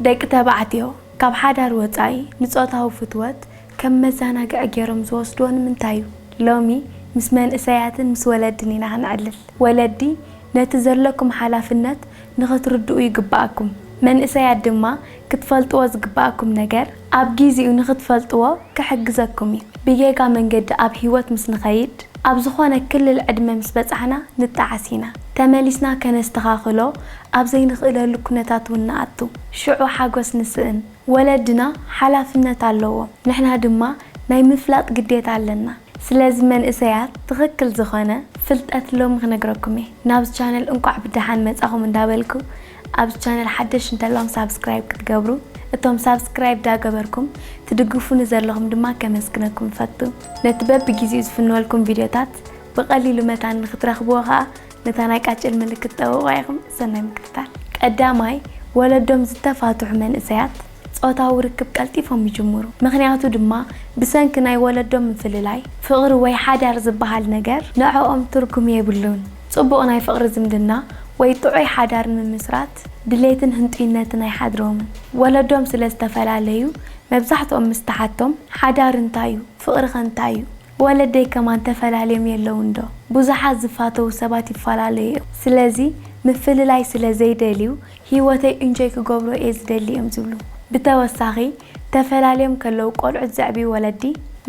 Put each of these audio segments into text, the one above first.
ደቂ ተባዕትዮ ካብ ሓዳር ወጻኢ ንጾታዊ ፍትወት ከም መዘናግዒ ገይሮም ዝወስድዎ ንምንታይ'ዩ? ሎሚ ምስ መንእሰያትን ምስ ወለድን ኢና ክንዕልል። ወለዲ ነቲ ዘለኩም ሓላፍነት ንኽትርድኡ ይግበኣኩም። መንእሰያት ድማ ክትፈልጥዎ ዝግበኣኩም ነገር፣ ኣብ ጊዚኡ ንክትፈልጥዎ ክሕግዘኩም እዩ። ብጌጋ መንገዲ ኣብ ሂወት ምስ ንከይድ ኣብ ዝኮነ ክልል ዕድመ ምስ በጻሕና ንጣዓስ ኢና። ተመሊስና ከነስተካክሎ ኣብ ዘይንክእለሉ ኩነታት ውን ንኣቱ። ሽዑ ሓጎስ ንስእን። ወለድና ሓላፍነት ኣለዎም ንሕና ድማ ናይ ምፍላጥ ግዴታ ኣለና። ስለዚ መንእሰያት ትክክል ዝኮነ ፍልጠት ሎሚ ክነግረኩም እየ። ናብዚ ቻነል እንቋዕ ብደሓን መጻኩም እንዳበልኩ፣ ኣብዚ ቻነል ሓደሽቲ እንተለኹም ሳብስክራይብ ክትገብሩ እቶም ሳብስክራይብ ዳገበርኩም ትድግፉኒ ዘለኹም ድማ ከመስግነኩም እፈቱ። ነቲ በብጊዚኡ ዝፍንወልኩም ቪድዮታት ብቀሊሉ መታን ንክትረኽብዎ ከኣ ነታ ናይ ቃጭል ምልክት ጠውቕዋ ኢኹም። ሰናይ ምክትታል። ቀዳማይ፣ ወለዶም ዝተፋትሑ መንእሰያት። ጾታዊ ርክብ ቀልጢፎም ይጅምሩ። ምኽንያቱ ድማ ብሰንኪ ናይ ወለዶ ምፍልላይ፣ ፍቕሪ ወይ ሓዳር ዝበሃል ነገር ንዕኦም ትርጉም የብሉን። ጽቡቕ ናይ ፍቕሪ ዝምድና ወይ ጥዑይ ሓዳር ንምምስራት ድሌትን ህንጡይነትን ኣይሓድሮምን። ወለዶም ስለ ዝተፈላለዩ፣ መብዛሕትኦም ምስ ትሓቶም፣ ሓዳር እንታይ'ዩ? ፍቕሪኸ እንታይ'ዩ? ወለደይ ከማን ተፈላልዮም የለውን ዶ ቡዙሓት ዝፋተዉ ሰባት ይፋላለዩ እዮም ስለዚ ምፍልላይ ስለ ዘይደልዩ ሂወተይ እንጆይ ክገብሮ እየ ዝደሊ እዮም ዝብሉ ብተወሳኪ ተፈላልዮም ከለዉ ቆልዑት ዘዕብዩ ወለዲ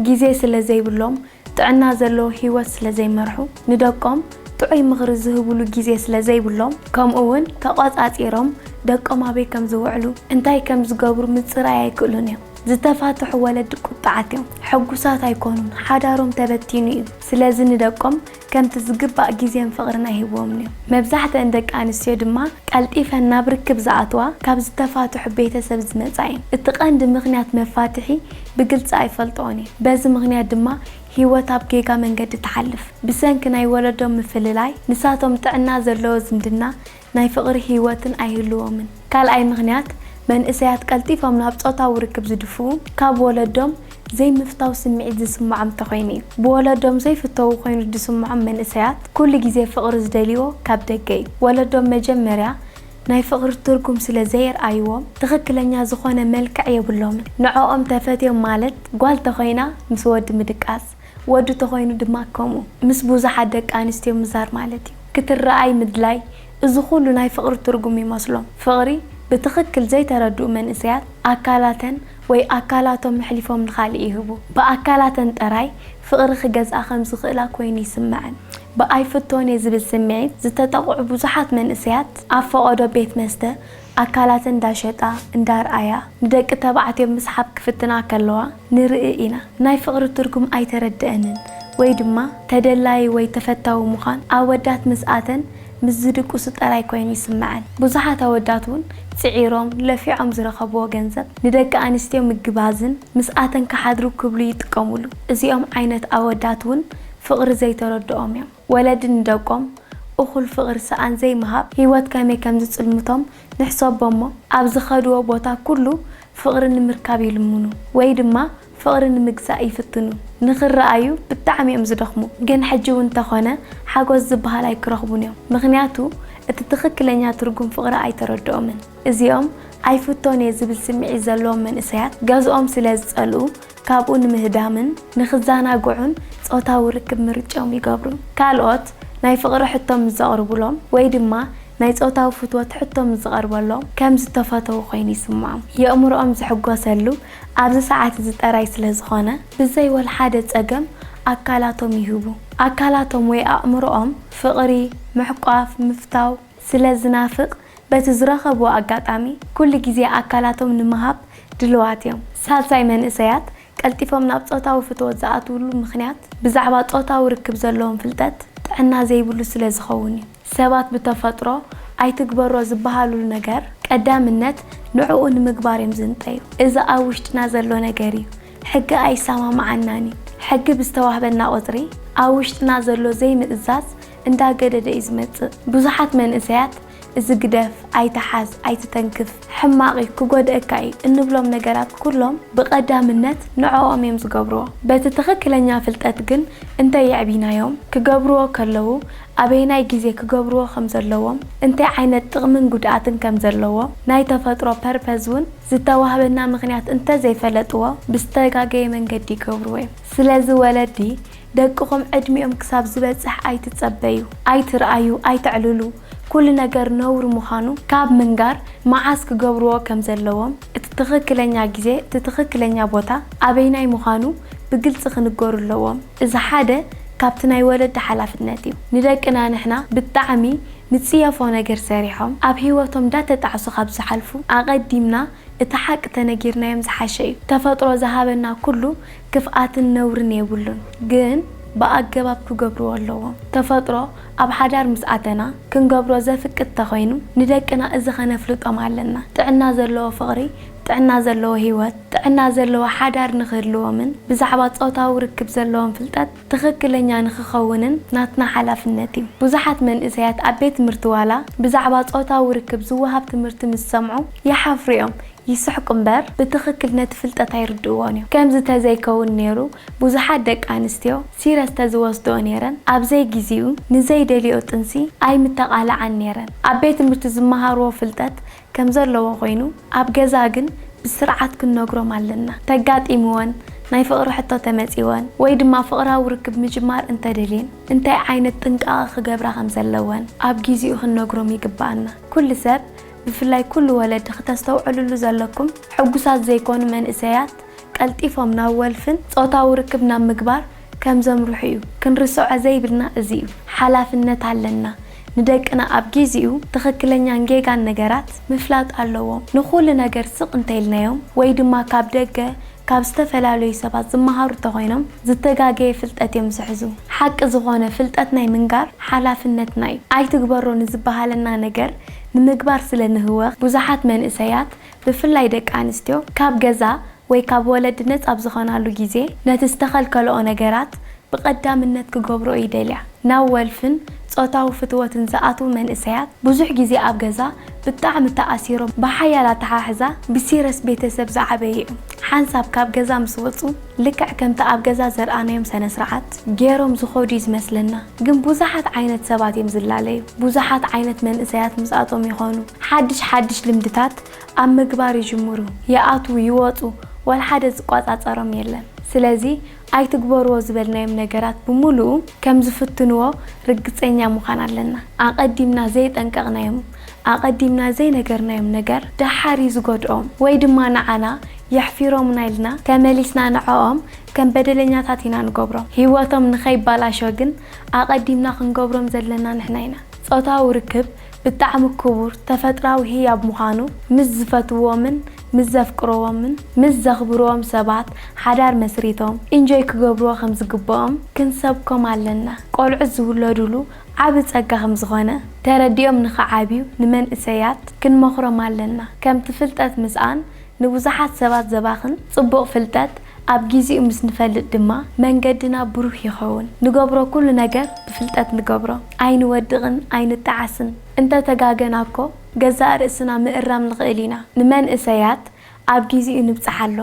ግዜ ስለ ዘይብሎም ጥዕና ዘለዎ ሂወት ስለ ዘይመርሑ ንደቆም ጥዑይ ምክሪ ዝህብሉ ግዜ ስለ ዘይብሎም ከምኡ ውን ተቆጻጺሮም ደቆም ኣበይ ከም ዝውዕሉ እንታይ ከም ዝገብሩ ምጽራይ ኣይክእሉን እዮም። ዝተፋትሑ ወለዲ ቁጥዓት እዮም። ሕጉሳት ኣይኮኑን፣ ሓዳሮም ተበቲኑ እዩ። ስለዚ ንደቆም ከምቲ ዝግባእ ግዜን ፍቕርን ኣይህብዎምን እዮም። መብዛሕትኣን ደቂ ኣንስትዮ ድማ ቀልጢፈን ናብ ርክብ ዝኣትዋ ካብ ዝተፋትሑ ቤተሰብ ዝመጻ እየን። እቲ ቀንዲ ምኽንያት መፋትሒ ብግልጺ ኣይፈልጥኦን እየ። በዚ ምኽንያት ድማ ህይወት ኣብ ጌጋ መንገዲ ትሓልፍ። ብሰንኪ ናይ ወለዶም ምፍልላይ ንሳቶም ጥዕና ዘለዎ ዝምድና ናይ ፍቕሪ ህይወትን ኣይህልዎምን። ካልኣይ ምኽንያት፣ መንእሰያት ቀልጢፎም ናብ ጾታዊ ርክብ ዝድፍኡ፣ ካብ ወለዶም ዘይምፍታው ስምዒት ዝስምዖም እንተኾይኑ እዩ። ብወለዶም ዘይፍተዉ ኮይኑ ዝስምዖም መንእሰያት፣ ኩሉ ግዜ ፍቕሪ ዝደልይዎ ካብ ደገ እዩ። ወለዶም መጀመርያ ናይ ፍቕሪ ትርጉም ስለ ዘየርኣይዎም፣ ትኽክለኛ ዝኾነ መልክዕ የብሎምን። ንዕኦም ተፈትዮም ማለት ጓል ተኾይና ምስ ወዲ ምድቃስ፣ ወዲ ተኾይኑ ድማ ከምኡ። ምስ ብዙሓት ደቂ ኣንስትዮ ምዛር ማለት እዩ። ክትረኣይ ምድላይ እዚ ኩሉ ናይ ፍቕሪ ትርጉም ይመስሎም። ፍቕሪ ብትኽክል ዘይተረድኡ መንእሰያት ኣካላተን ወይ ኣካላቶም ኣሕሊፎም ንኻልእ ይህቡ። ብኣካላተን ጥራይ ፍቕሪ ክገዝኣ ከም ዝኽእላ ኮይኑ ይስመዐን። ብኣይፍቶን'የ ዝብል ስምዒት ዝተጠቕዑ ብዙሓት መንእሰያት ኣብ ፈቐዶ ቤት መስተ፣ ኣካላተን እንዳሸጣ እንዳርኣያ ንደቂ ተባዕትዮ ምስሓብ ክፍትና ከለዋ ንርኢ ኢና። ናይ ፍቕሪ ትርጉም ኣይተረደኣንን ወይ ድማ ተደላዪ ወይ ተፈታዊ ምዃን ኣወዳት ምስ ኣተን ምስ ዝድቅሱ ጥራይ ኮይኑ ይስመዐን። ብዙሓት ኣወዳት እውን ጽዒሮም ለፊዖም ዝረኸብዎ ገንዘብ ንደቂ ኣንስትዮ ምግባዝን ምስ ኣተን ክሓድሩ ክብሉ ይጥቀሙሉ። እዚኦም ዓይነት ኣወዳት እውን ፍቕሪ ዘይተረድኦም እዮም። ወለዲ ንደቆም እኹል ፍቕሪ ሰኣን ዘይምሃብ ህይወት ከመይ ከም ዝጽልምቶም ንሕሰቦ'ሞ፣ ኣብ ዝኸድዎ ቦታ ኩሉ ፍቕሪ ንምርካብ ይልምኑ ወይ ድማ ፍቕሪ ንምግዛእ ይፍትኑ። ንኽረኣዩ ብጣዕሚ'ዮም ዝደኽሙ፣ ግን ሕጂ'ውን እንተኾነ ሓጎስ ዝበሃል ኣይክረኽቡን'ዮም፣ ምኽንያቱ እቲ ትኽክለኛ ትርጉም ፍቕሪ ኣይተረድኦምን። እዚኦም ኣይፍቶን'የ ዝብል ስምዒት ዘለዎም መንእሰያት ገዝኦም ስለ ዝጸልኡ፣ ካብኡ ንምህዳምን ንኽዘናግዑን ጾታዊ ርክብ ምርጭኦም ይገብሩ። ካልኦት ናይ ፍቕሪ ሕቶ ምስ ዘቕርቡሎም ወይ ድማ ናይ ጾታዊ ፍትወት ሕቶ ምስ ዝቐርበሎም ከም ዝተፈተዉ ኮይኑ ይስምዖም። የእምሮኦም ዝሕጎሰሉ ኣብዚ ሰዓት እዚ ጥራይ ስለ ዝኾነ ብዘይ ወልሓደ ጸገም ኣካላቶም ይህቡ። ኣካላቶም ወይ ኣእምሮኦም ፍቕሪ፣ ምሕቋፍ፣ ምፍታው ስለ ዝናፍቕ በቲ ዝረኸብዎ ኣጋጣሚ ኩሉ ግዜ ኣካላቶም ንምሃብ ድልዋት እዮም። ሳልሳይ መንእሰያት ቀልጢፎም ናብ ጾታዊ ፍትወት ዝኣትውሉ ምኽንያት ብዛዕባ ጾታዊ ርክብ ዘለዎም ፍልጠት ጥዕና ዘይብሉ ስለ ዝኸውን እዩ። ሰባት ብተፈጥሮ ኣይትግበሮ ዝበሃልሉ ነገር ቀዳምነት ንዕኡ ንምግባር እዮም ዝንጠዩ። እዚ ኣብ ውሽጥና ዘሎ ነገር እዩ። ሕጊ ኣይሰማምዓናን እዩ። ሕጊ ብዝተዋህበና ቁጽሪ ኣብ ውሽጥና ዘሎ ዘይምእዛዝ እንዳገደደ እዩ ዝመጽእ። ብዙሓት መንእሰያት እዚ ግደፍ፣ ኣይትሓዝ፣ ኣይትተንክፍ፣ ሕማቕ እዩ፣ ክጎድኣካ እዩ እንብሎም ነገራት ኩሎም ብቐዳምነት ንዕኦም እዮም ዝገብርዎ። በቲ ትኽክለኛ ፍልጠት ግን እንተየዕቢናዮም ክገብርዎ ከለዉ ኣበየናይ ግዜ ክገብርዎ ከም ዘለዎም እንታይ ዓይነት ጥቕምን ጉድኣትን ከም ዘለዎ ናይ ተፈጥሮ ፐርፐዝ እውን ዝተዋህበና ምኽንያት እንተዘይፈለጥዎ ብዝተጋገየ መንገዲ ይገብርዎ እዮም። ስለዚ ወለዲ ደቅኹም ዕድሚኦም ክሳብ ዝበጽሕ ኣይትጸበዩ፣ ኣይትርኣዩ፣ ኣይተዕልሉ፣ ኩሉ ነገር ነውሪ ምዃኑ ካብ ምንጋር መዓስ ክገብርዎ ከም ዘለዎም፣ እቲ ትኽክለኛ ግዜ፣ እቲ ትኽክለኛ ቦታ ኣበይናይ ምዃኑ ብግልጺ ክንገሩ ኣለዎም። እዚ ሓደ ካብቲ ናይ ወለዲ ሓላፍነት እዩ። ንደቅና ንሕና ብጣዕሚ ንጽየፎ ነገር ሰሪሖም ኣብ ህይወቶም እንዳተጣዕሱ ካብ ዝሓልፉ ኣቐዲምና እቲ ሓቂ ተነጊርናዮም ዝሓሸ እዩ። ተፈጥሮ ዝሃበና ኩሉ ክፍኣትን ነውርን የብሉን ግን ብኣገባብ ክገብርዎ ኣለዎም። ተፈጥሮ ኣብ ሓዳር ምስ ኣተና ክንገብሮ ዘፍቅድ ተኮይኑ ንደቅና እዚ ከነፍልጦም ኣለና ጥዕና ዘለዎ ፍቅሪ ጥዕና ዘለዎ ሂወት ጥዕና ዘለዎ ሓዳር ንክህልዎምን ብዛዕባ ጾታዊ ርክብ ዘለዎም ፍልጠት ትክክለኛ ንክከውንን ናትና ሓላፍነት እዩ ብዙሓት መንእሰያት ኣብ ቤት ትምህርቲ ዋላ ብዛዕባ ጾታዊ ርክብ ዝወሃብ ትምህርቲ ምስ ሰምዑ ይሓፍሩ እዮም ይስሕቁ እምበር ብትኽክል ነቲ ፍልጠት ኣይርድእዎን እዮም። ከምዚ ተዘይከውን ኔሩ ብዙሓት ደቂ ኣንስትዮ ሲረስ ተዝወስድኦ ኔረን ኣብ ዘይጊዚኡ ንዘይደልየኦ ጥንሲ ኣይምተቓልዓን ኔረን። ኣብ ቤት ትምህርቲ ዝመሃርዎ ፍልጠት ከምዘለዎ ኮይኑ ኣብ ገዛ ግን ብስርዓት ክንነግሮም ኣለና። ተጋጢምወን ናይ ፍቕሪ ሕቶ ተመጺወን ወይ ድማ ፍቕራዊ ርክብ ምጅማር እንተደልየን እንታይ ዓይነት ጥንቃቐ ክገብራ ከምዘለወን ኣብ ጊዚኡ ክንነግሮም ይግብኣና። ኩሉ ሰብ ብፍላይ ኩሉ ወለዲ ክተስተውዕልሉ ዘለኩም ሕጉሳት ዘይኮኑ መንእሰያት ቀልጢፎም ናብ ወልፍን ጾታዊ ርክብ ናብ ምግባር ከም ዘምርሑ እዩ ክንርስዖ ዘይብልና እዚ እዩ ሓላፍነት ኣለና ንደቅና ኣብ ጊዚኡ ትኽክለኛን ጌጋን ነገራት ምፍላጥ ኣለዎም ንኹሉ ነገር ስቅ እንተኢልናዮም ወይ ድማ ካብ ደገ ካብ ዝተፈላለዩ ሰባት ዝመሃሩ እንተኾይኖም ዝተጋገየ ፍልጠት እዮም ዝሕዙ። ሓቂ ዝኾነ ፍልጠት ናይ ምንጋር ሓላፍነትና እዩ። ኣይትግበሮ ንዝበሃለና ነገር ንምግባር ስለ ንህወኽ ብዙሓት መንእሰያት ብፍላይ ደቂ ኣንስትዮ ካብ ገዛ ወይ ካብ ወለዲ ነጻ ኣብ ዝኾናሉ ግዜ ነቲ ዝተኸልከለኦ ነገራት ብቐዳምነት ክገብሮ ይደልያ። ናብ ወልፍን ጾታዊ ፍትወትን ዝኣትዉ መንእሰያት ብዙሕ ግዜ ኣብ ገዛ ብጣዕሚ ተኣሲሮም ብሓያል ኣተሓሕዛ ብሲረስ ቤተሰብ ዝዓበዩ'ዮም። ሓንሳብ ካብ ገዛ ምስ ወጹ ልክዕ ከምቲ ኣብ ገዛ ዘርኣናዮም ሰነስርዓት ጌሮም ዝኸዱ'ዩ ዝመስለና። ግን ብዙሓት ዓይነት ሰባት'ዮም ዝላለዩ። ብዙሓት ዓይነት መንእሰያት ምስኣቶም ይኾኑ። ሓድሽ ሓድሽ ልምድታት ኣብ ምግባር ይጅምሩ፣ ይኣትዉ ይወጹ፣ ወልሓደ ዝቆጻጸሮም የለን። ስለዚ ኣይትግበርዎ ዝበልናዮም ነገራት ብምሉኡ ከም ዝፍትንዎ ርግጸኛ ምዃን ኣለና። ኣቐዲምና ዘይጠንቀቕናዮም፣ ኣቐዲምና ዘይነገርናዮም ነገር ደሓር እዩ ዝጎድኦም፣ ወይ ድማ ንዓና የሕፊሮምና ኢልና ተመሊስና ንዕኦም ከም በደለኛታት ኢና ንገብሮም። ህይወቶም ንኸይባላሾ ግን ኣቐዲምና ክንገብሮም ዘለና ንሕና ኢና። ጾታዊ ርክብ ብጣዕሚ ክቡር ተፈጥራዊ ህያብ ምዃኑ ምስ ዝፈትውዎምን ምስ ዘፍቅርዎምን ምስ ዘኽብርዎም ሰባት ሓዳር መስሪቶም ኢንጆይ ክገብርዎ ከም ዝግብኦም ክንሰብኮም ኣለና። ቆልዑት ዝውለዱሉ ዓቢ ጸጋ ከም ዝኾነ ተረዲኦም ንኽዓብዩ ንመንእሰያት ክንመኽሮም ኣለና። ከምቲ ፍልጠት ምስኣን ንብዙሓት ሰባት ዘባኽን ጽቡቕ ፍልጠት ኣብ ጊዚኡ ምስ ንፈልጥ ድማ መንገድና ብሩህ ይኸውን። ንገብሮ ኩሉ ነገር ብፍልጠት ንገብሮ። ኣይንወድቕን ኣይንጠዓስን። እንተ ተጋገና እኮ ገዛእ ርእስና ምእራም ንኽእል ኢና። ንመንእሰያት ኣብ ጊዚኡ ንብጽሓሎም።